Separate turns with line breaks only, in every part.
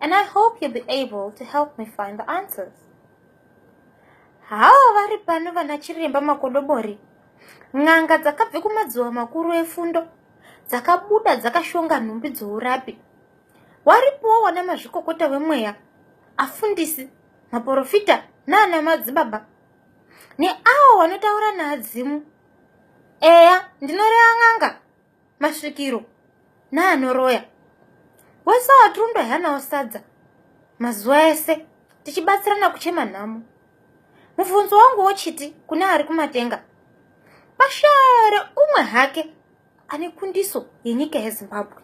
and I hope you'll be able to help me find the answers. Hawa vari pano vana chiremba makodobori. N'anga dzakabve kumadziwa makuru efundo dzakabuda dzakashonga nhumbi dzourapi. Waripowo wana mazvikokota wemweya, afundisi, maporofita naana madzibaba neawo wanotaura naadzimu. Eya, ndinoreva n'anga masvikiro naanoroya wese watirumbi haanawo sadza mazuva ese tichibatsirana kuchema nhamo mubvunzo wangu wochiti kune ari kumatenga pashare umwe hake ane kundiso yenyika yezimbabwe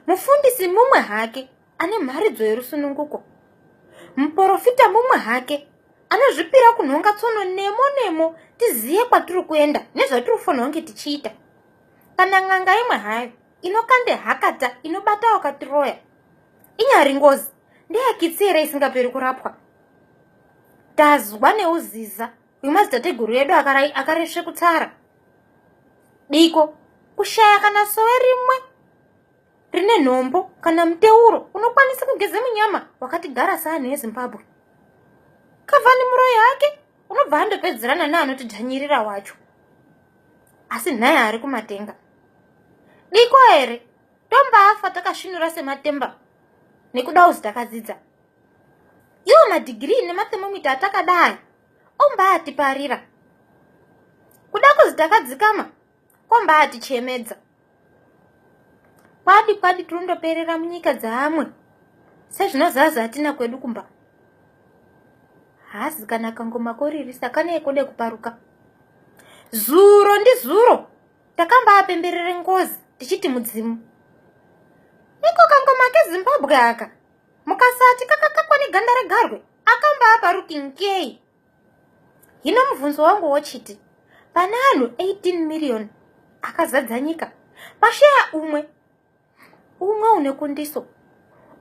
mufundisi mumwe hake ane mharidzo yerusununguko muporofita mumwe hake anozvipira kunhonga tsono nemo nemo tizive kwatiri kuenda nezvatiri kufanirwa kunge tichiita kana n'anga imwe hayo inokande hakata inobata wakatiroya inyari ngozi ndeyakitsi here isingaperi kurapwa tazwa neuziza uyu madzitateguru edu akaresve kutara diko kushaya kana sowe rimwe rine nhombo kana muteuro unokwanisa kugeza munyama wakatigara seanhu ezimbabwe kavani muroyi hake unobva andopedzerana neanotidhanyirira wacho asi nhai ari kumatenga diko here tombaafa takasvinura sematemba nekuda uzi takadzidza iwo madhigirii nemathemomita atakadai ombaatiparira kuda kuzi takadzikama kombaati chemedza kwadi kwadi tirondoperera munyika dzaamwe sezvinozaza hatina kwedu kumba hazi kana kangoma koririsa kanee kode kuparuka zuro ndizuro takambaapemberere ngozi tichiti mudzimu iko kangoma kezimbabwe aka mukasati kakakakwa neganda regarwe akambaaparuki nkei hino mubvunzo wangu wochiti pane anhu 18 miriyoni akazadza nyika pasheya umwe umwe une kundiso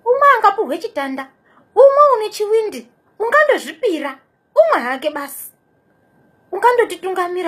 umwe angapuhwe chitanda umwe une chiwindi ungandozvipira umwe hake basi ungandotitungamira